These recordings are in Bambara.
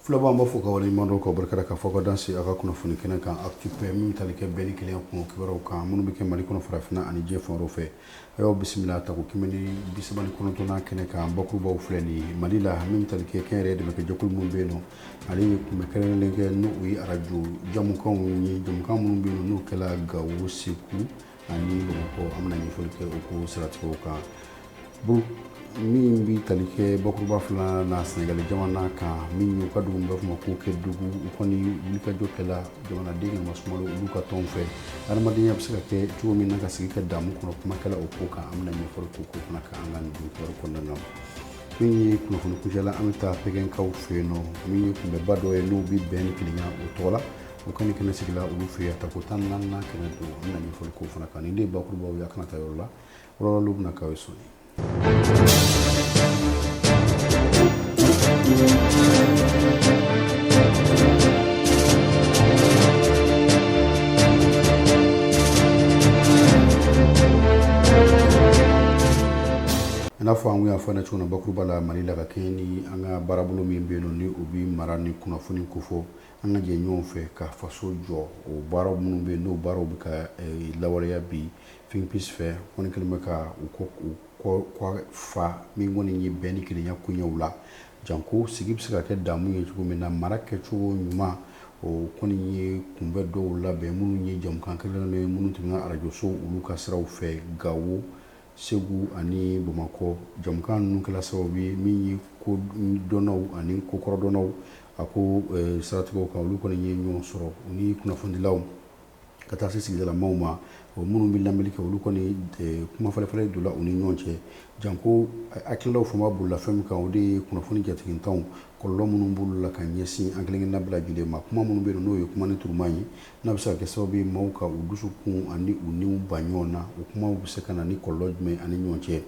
Foliba an b'aw fo k'aw waleɲumandɔn k'aw barika da k'a fɔ aw ka danse aw ka kunnafoni kɛnɛ kan Actu paix min bɛ tali kɛ bɛn ni kelenya kun kibaruw kan minnu bɛ kɛ mali kɔnɔ farafinna ani diɲɛ fan wɛrɛw fɛ a y'aw bisimila tako kɛmɛ ni bisaba ni kɔnɔntɔnnan kɛnɛ kan bakurubaw filɛ nin ye mali la min bɛ tali kɛ kɛnyɛrɛye dɛmɛ kɛ jɛkulu minnu bɛ yen nɔ ale ye kunbɛn kɛrɛnkɛrɛnnen kɛ n'o ye arajo jamukanw ye jamukan minnu bɛ yen nɔ n'o kɛla gawo segu ani bamakɔ an bɛna ɲɛfɔli kɛ o ko siratigɛw kan bon min bɛ tali kɛ bakuruba filanan na sɛnɛgali jamana kan min y'u ka dugu b'a fɔ ma ko kedugu u kɔni wulikajɔ kɛla jamanaden ka masumalo olu ka tɔn fɛ adamadenya bɛ se ka kɛ cogo min na ka sigi ka damu kɔnɔ kuma kɛla o ko kan an bɛna ɲɛfɔli k'o ko fana kan an ka nin kibaru kɔnɔna na min ye kunnafoni kuncɛla an bɛ taa pɛgɛnkaw fɛ yen nɔ min ye kunbɛnba dɔ ye n'o bɛ bɛn ni kelenya o tɔgɔ la o kɔni kɛnɛ sigila olu fɛ yen tako tan ni naaninan kɛnɛ don an na ɲɛfɔli k'o fana kan nin de ye bakurubaw ye a kana taa yɔrɔ la wɔlɔwɔlɔ bɛna k'aw ye sɔɔni n'a fɔ an y'a fɔ cogo na bakuruba la mali la ka kɛɲɛ ni an ka baarabolo min bɛ yen nɔ ni o bɛ mara ni kunnafoni kofɔ An ka jɛ ɲɔgɔn fɛ ka faso jɔ o baara minnu bɛ n'o baaraw bɛ ka lawaleya bi Think Peace fɛ kɔni kɛlen bɛ ka u kɔ fa min kɔni ye bɛn ni kelenya koɲɛw la janko sigi bɛ se ka kɛ damu ye cogo min na mara kɛcogo ɲuman o kɔni ye kunbɛn dɔw labɛn minnu ye jamukan kɛli ye minnu tɛmɛna arajoso olu ka siraw fɛ gawo Segu ani bamakɔ jamukan ninnu kɛla sababu ye min ye kodɔnnaw ani kokɔrɔdɔnnaw a ko siratigɛ kan olu kɔni ye ɲɔgɔn sɔrɔ u ni kunnafonidilaw ka taa se sigidalamaw ma o minnu bɛ lamɛnni kɛ olu kɔni kumafalenfalen donna u ni ɲɔgɔn cɛ janko hakililaw fanba bolila fɛn min kan o de ye kunnafoni jatigintanw kɔlɔlɔ minnu b'olu la ka ɲɛsin an kelen-kelenna bɛɛ lajɛlen ma kuma minnu bɛ yen n'o ye kuma ni turuma ye n'a bɛ se ka kɛ sababu ye maaw ka u dusukun ani u niw ba ɲɔgɔn na o kumaw bɛ se ka na ni kɔlɔlɔ jumɛn an ni ɲɔgɔn cɛ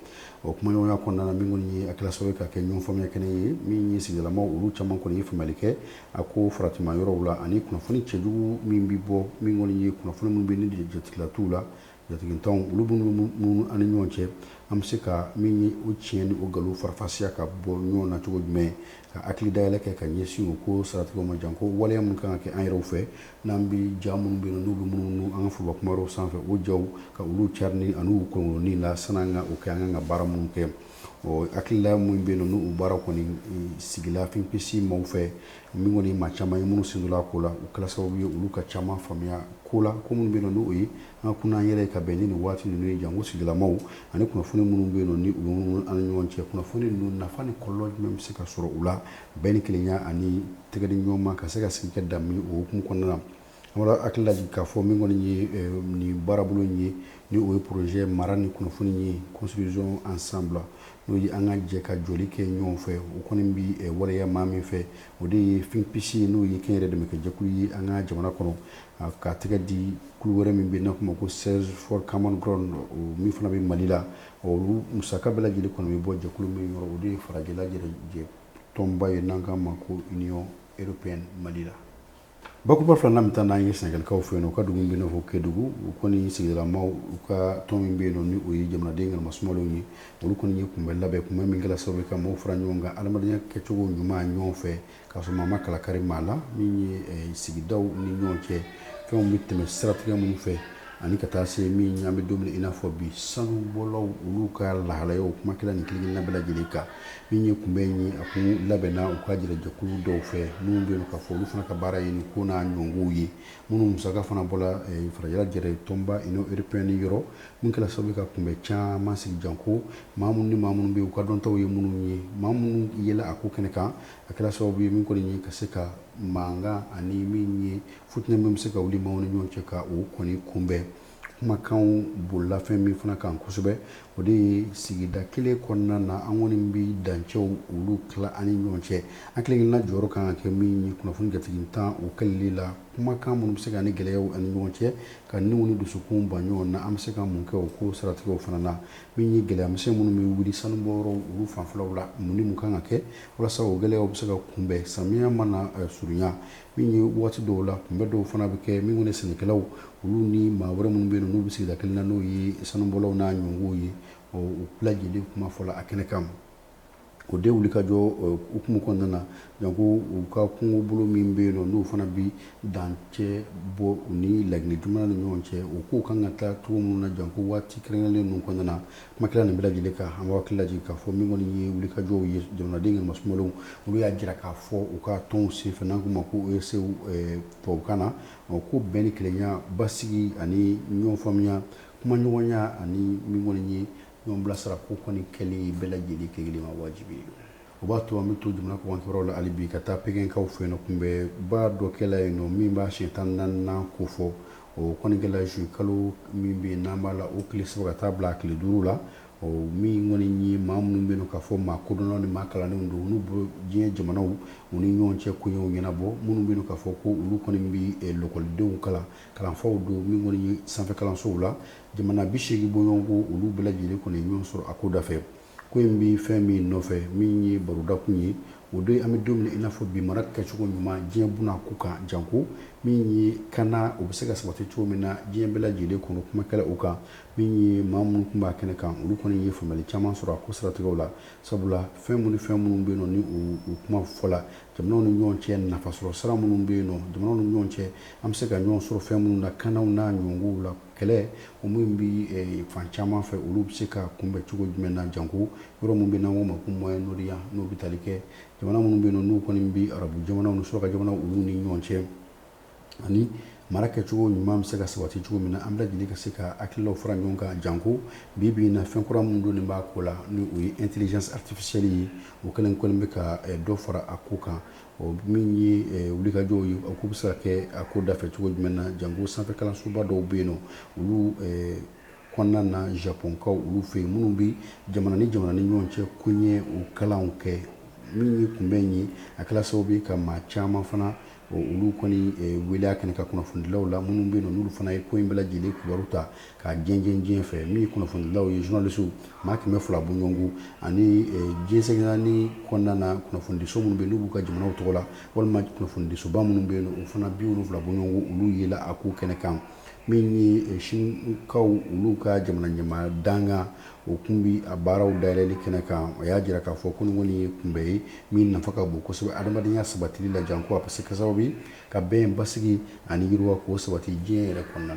o kumaɲɔgɔnya kɔnɔna na min kɔni ye a kɛra sababu ye ka kɛ ɲɔgɔn faamuya kɛnɛ ye min ye sigidalamaw olu caman kɔni ye faamuyali kɛ a ko faratima yɔrɔw la ani kunnafoni cɛjugu min bɛ bɔ min kɔni ye kunnafoni minnu bɛ ni jatigila t'u la Jatigintanw olu minnu an ni ɲɔgɔn cɛ an bɛ se ka min ye o tiɲɛ ni o nkalon farafasiya ka bɔ ɲɔgɔn na cogo jumɛn ka hakili dayɛlɛ kɛ ka ɲɛsin o ko siratigɛw ma janko waleya minnu kan ka kɛ an yɛrɛw fɛ n'an bɛ ja minnu bɛ yen n'u bɛ munumunu an ka foroba kumaw sanfɛ o jaw ka olu carinni ani u kɔnkɔnni la sani an ka o kɛ an kan ka baara minnu kɛ ɔ hakilila minnu bɛ yen nin baara kɔni sigila Think Peace maaw fɛ Min kɔni maa caman ye minnu sen don a ko la o kɛla sababu ye olu ka caman faamuya ko la ko minnu bɛ yen nɔ n'o ye an ka kunna an yɛrɛ ka bɛn ni nin waati ninnu ye janko sigilamaw ani kunnafoni minnu bɛ yen nɔ ni u an ni ɲɔgɔn cɛ kunnafoni ninnu nafa ni kɔlɔlɔ jumɛn bɛ se ka sɔrɔ u la bɛn ni kelenya ani tɛgɛdi ɲɔgɔnma ka se ka sigi kɛ damu o hukumu kɔnɔna na An b'aw hakili lajigin k'a fɔ min kɔni ye nin baarabolo in ye ni o ye projet mara ni kunnafoni ye construisons ensemble n'o ye an ka jɛ ka jɔli kɛ ɲɔgɔn fɛ o kɔni bɛ waleya maa min fɛ o de ye Think Peace ye n'o ye kɛnyɛrɛye dɛmɛ kɛ jɛkulu ye an ka jamana kɔnɔ ka tɛgɛ di kulu wɛrɛ min bɛ n'an k'o ma ko Search for Common Ground o min fana bɛ mali la olu musaka bɛɛ lajɛlen kɔni bɛ bɔ jɛkulu min yɔrɔ o de ye farajɛla tɔnba ye n'an k'a ma ko Union Européenne mali la Bakuruba filanan bɛ taa n'an ye sɛnɛgalikaw fɛ yen nɔ u ka dugu min bɛ fɔ kedugu u kɔni sigilamaw u ka tɔn min bɛ yen nɔ ni o ye jamanaden ka masumalenw ye olu kɔni ye kunbɛn labɛn kunbɛn min kɛla sababu ye ka maaw fara ɲɔgɔn kan adamadenya kɛcogo ɲuman ɲɔgɔn fɛ k'a sɔrɔ maa ma kala kari maa la min ye sigidaw ni ɲɔgɔn cɛ fɛnw bɛ tɛmɛ siratigɛ minnu fɛ ani ka taa se min an bɛ don min i n'a fɔ bi sanubɔlaw olu ka lahalayaw kuma kɛla nin kelenkelenna bɛɛ lajɛlen kan Min ye kunbɛn in ye a kɔni labɛnna u ka jɛkulu dɔw fɛ minnu bɛ yen k'a fɔ olu fana ka baara ye nin ko n'a ɲɔgɔnw ye minnu musaka fana bɔla farajɛla jɛrɛ tɔnba Union Européenne yɔrɔ min kɛla sababu ye ka kunbɛn caman sigi janko maa minnu ni maa minnu bɛ yen u ka dɔntaw ye minnu ye maa minnu yɛlɛ a ko kɛnɛ kan a kɛla sababu ye min kɔni ye ka se ka mankan ani min ye futinɛ min bɛ se ka wuli maaw ni ɲɔgɔn cɛ ka o kɔni kunbɛn kumakanw bolila fɛn min fana kan kosɛbɛ o de ye sigida kelen kɔnɔna na an kɔni bɛ dancɛw olu tila an ni ɲɔgɔn cɛ an kelenkelenna jɔyɔrɔ kan ka kɛ min ye kunnafoni jatigintan o kɛlɛli la kumakan minnu bɛ se ka ni gɛlɛyaw an ni ɲɔgɔn cɛ ka niw ni dusukun ba ɲɔgɔn na an bɛ se ka mun kɛ o ko siratigɛw fana na min ye gɛlɛyamisɛn minnu bɛ wuli sanubɔyɔrɔw olu fanfɛlaw la mun ni mun kan ka kɛ walasa o gɛlɛyaw bɛ se ka kunbɛn samiya mana surunya min ye waati dɔw la kunbɛn dɔw fana bɛ kɛ min ni sɛnɛkɛlaw olu ni maa wɛrɛ minnu bɛ yen n'u bɛ sigida kelen na n'o ye sanubɔlaw n'a ɲɔgɔnw ye o bɛɛ lajɛlen kuma fɔla a kɛnɛ kan o de wuli ka jɔ hukumu kɔnɔna na janko u ka kungobolo min bɛ yen nɔ n'o fana bɛ dancɛ bɔ u ni laginɛ jamana ni ɲɔgɔn cɛ o kow kan ka taa cogo minnu na janko waati kɛrɛnkɛrɛnlen ninnu kɔnɔna na Kuma kɛla nin bɛɛ lajɛlen kan an b'aw hakili lajigin k'a fɔ min kɔni ye wulikajɔw ye jamanaden masumalenw olu y'a jira k'a fɔ u ka tɔn senfɛ n'an k'o ma ko OSC tubabukan na o ko bɛn ni kelenya basigi ani ɲɔn faamuya kuma ɲɔgɔnya ani min kɔni ye ɲɔn bilasira ko kɔni kɛli bɛɛ lajɛlen kelen ma wajibi ye o b'a to an bɛ to jamana kɔkan kow la hali bi ka taa pegekaw fɛ yen nɔ kunbɛnba dɔ kɛla yen nɔ min b'a siɲɛ tan ni naaninan ko fɔ O kɔni kɛla zuwɛnkalo min bɛ yen n'an b'a la o tile saba ka taa bila a tile duuru la min kɔni ye maa minnu bɛ yen nɔ k'a fɔ maa kodɔnnaw ni maa kalannenw don n'u bɛ diɲɛ jamanaw u ni ɲɔgɔn cɛ koɲɛw ɲɛnabɔ minnu bɛ yen nɔ k'a fɔ ko olu kɔni bɛ lakɔlidenw kalan kalanfaw don min kɔni ye sanfɛ kalansow la jamana bi seegin bɔɲɔgɔnko olu bɛɛ lajɛlen kɔni ye ɲɔgɔn sɔrɔ a ko dafɛ Ko in bɛ fɛn min nɔfɛ min ye barodakun ye o don an bɛ don min i n'a fɔ bi mara kɛcogo ɲuman diɲɛ buna ko kan janko min ye kana o bɛ se ka sabati cogo min na diɲɛ bɛɛ lajɛlen kɔnɔ kuma kɛla o kan min ye maa minnu tun b'a kɛnɛ kan olu kɔni ye faamuyali caman sɔrɔ a ko siratigɛw la sabula fɛn minnu ni fɛn minnu bɛ yen nɔ ni o kuma fɔla jamanaw ni ɲɔgɔn cɛ nafasɔrɔ sira minnu bɛ yen nɔ jamanaw ni ɲɔgɔn cɛ an bɛ se ka ɲɔgɔn sɔrɔ fɛn minnu na kanaw n'a ɲɔgɔnkow la Kɛlɛ o min bɛ fan caman fɛ olu bɛ se ka kunbɛn cogo jumɛn na janko yɔrɔ min bɛ n'an k'o ma ko Moyen-Orient n'o bɛ tali kɛ jamana minnu bɛ yen n'u kɔni bɛ arabu jamanaw ni suraka jamanaw olu ni ɲɔgɔn cɛ ani mara kɛcogo ɲuman bɛ se ka sabati cogo min na an bɛɛ lajɛlen ka se ka hakililaw fara ɲɔgɔn kan janko bi bi in na fɛn kura minnu donnen b'a ko la ni o ye intelligence artificielle ye o kɛlen kɔni bɛ ka dɔ fara a ko kan Ɔ min ye wulikajɔw ye o ko bɛ se ka kɛ a ko dafɛ cogo jumɛn na jango sanfɛkalansoba dɔw bɛ yen nɔ olu kɔnɔna na Japɔnkaw olu fɛ yen minnu bɛ jamana ni jamana ni ɲɔgɔn cɛ koɲɛ o kalanw kɛ min ye kunbɛn ye a kɛla sababu ye ka maa caman fana olu kɔni wele a kɛnɛ kan kunnafonidilaw la minnu bɛ yen nɔ n'olu fana ye ko in bɛɛ lajɛlen kibaru ta k'a jɛnsɛn diɲɛ fɛ min ye kunnafonidilaw ye journalistes maa kɛmɛ fila bɔɲɔgɔnko ani diɲɛ seleke naani kɔnɔna na kunnafonidiso minnu bɛ yen n'u b'u ka jamanaw tɔgɔ la walima kunnafonidisoba minnu bɛ yen o fana bi wolonfila bɔɲɔgɔnko olu yela a ko kɛnɛ kan min ye Sinikaw olu ka jamana ɲɛmaa dankan o tun bɛ a baaraw dayɛlɛli kɛnɛ kan o y'a jira k'a fɔ ko nin kɔni ye kunbɛn ye min nafa ka bon kosɛbɛ adamadenya sabatili la janko a bɛ se ka sababu ye ka bɛn basigi ani yiriwa k'o sabati diɲɛ yɛrɛ kɔnɔna